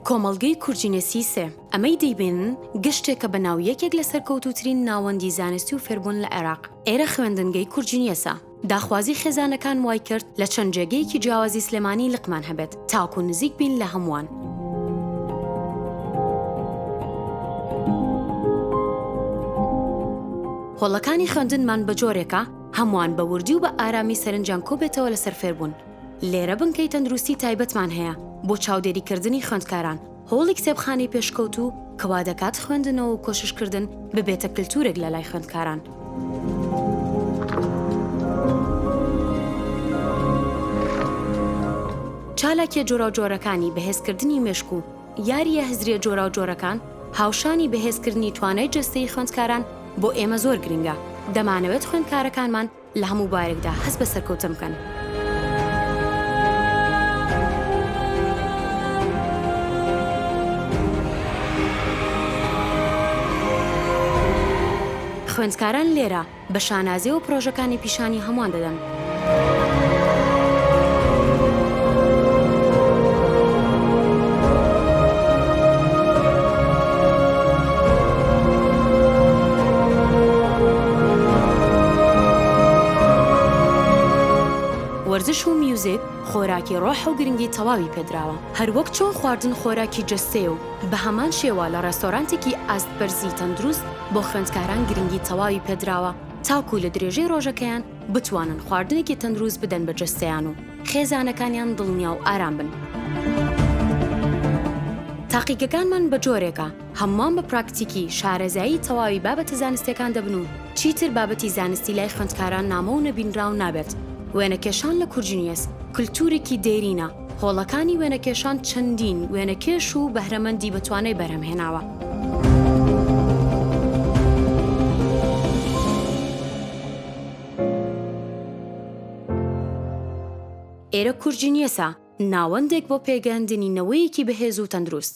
کۆمەڵگەی کورجینێسی سێ، ئەمەی دەیبینن گەشتێکە بە ناو یەکێک لە سەرکەوتووترین ناوەندی زانستی و فێربوون لە عێراق، ئێرە خوێندنگەی کورجینیەسە. داخوازی خێزانەکان وای کرد لە چەند جێگەیەکی جیاوازی سلێمانی لقمان هەبێت تاکوو نزیک بین لە هەمووان. هۆڵەکانی خوێندنمان بە جۆرێکە هەمووان بە وردی و بە ئارامی سەرنجیان کۆبێتەوە لەسەر فێربوون. لێرە بنکەی تەندروستی تایبەتمان هەیە بۆ چاودێریکردنی خوێندکاران، هۆڵی کتێبخانەی پێشکەوتوو کە وا دەکات خوێندنەوە و کۆششکردن ببێتە کلتورێک لە لای خوێندکاران. چالاکیە جۆراوجۆرەکانی بەهێزکردنی مێشک و یاریە هزریە جۆراوجۆرەکان هاوشانی بەهێزکردنی توانای جەستەی خوێندکاران بۆ ئێمە زۆر گرنگە دەمانەوێت خوێندکارەکانمان لە هەموو بارێکدا هەست بە سەرکەوتن بکەن. خوێندکاران لێرە بە شانازیەوە پرۆژەکانی پیشانی هەمووان دەدەن. وەرزش و میوزیک خۆراکی ڕۆح و گرنگی تەواوی پێدراوە، هەروەک چۆن خواردن خۆراکی جەستەیە و بەهەمان شێوە لە ڕێستۆرانتێکی ئاست بەرزی تەندروست بۆ خوێندکاران گرنگی تەواوی پێدراوە تاکو لە درێژەی ڕۆژەکەیان بتوانن خواردنێکی تەندروست بدەن بە جەستەیان و خێزانەکانیان دڵنیا و ئارام بن. تاقیگەکانمان بە جۆرێکە، هەمووان بە پراکتیکی شارەزایی تەواوی بابەتە زانستیەکان دەبن و چیتر بابەتی زانستی لای خوێندکاران نامۆ و نەبینراو نابێت. وێنەکێشان لە کورجنیەس کلتورێکی دێرینە، هۆڵەکانی وێنەکێشان چەندین وێنەکێش و بەهرەمەندی بەتوانای بەرهەمهێناوە. ئێرە کورجنیەسە، ناوەندێک بۆ پێگەیاندنی نەوەیەکی بەهێز و تەندروست.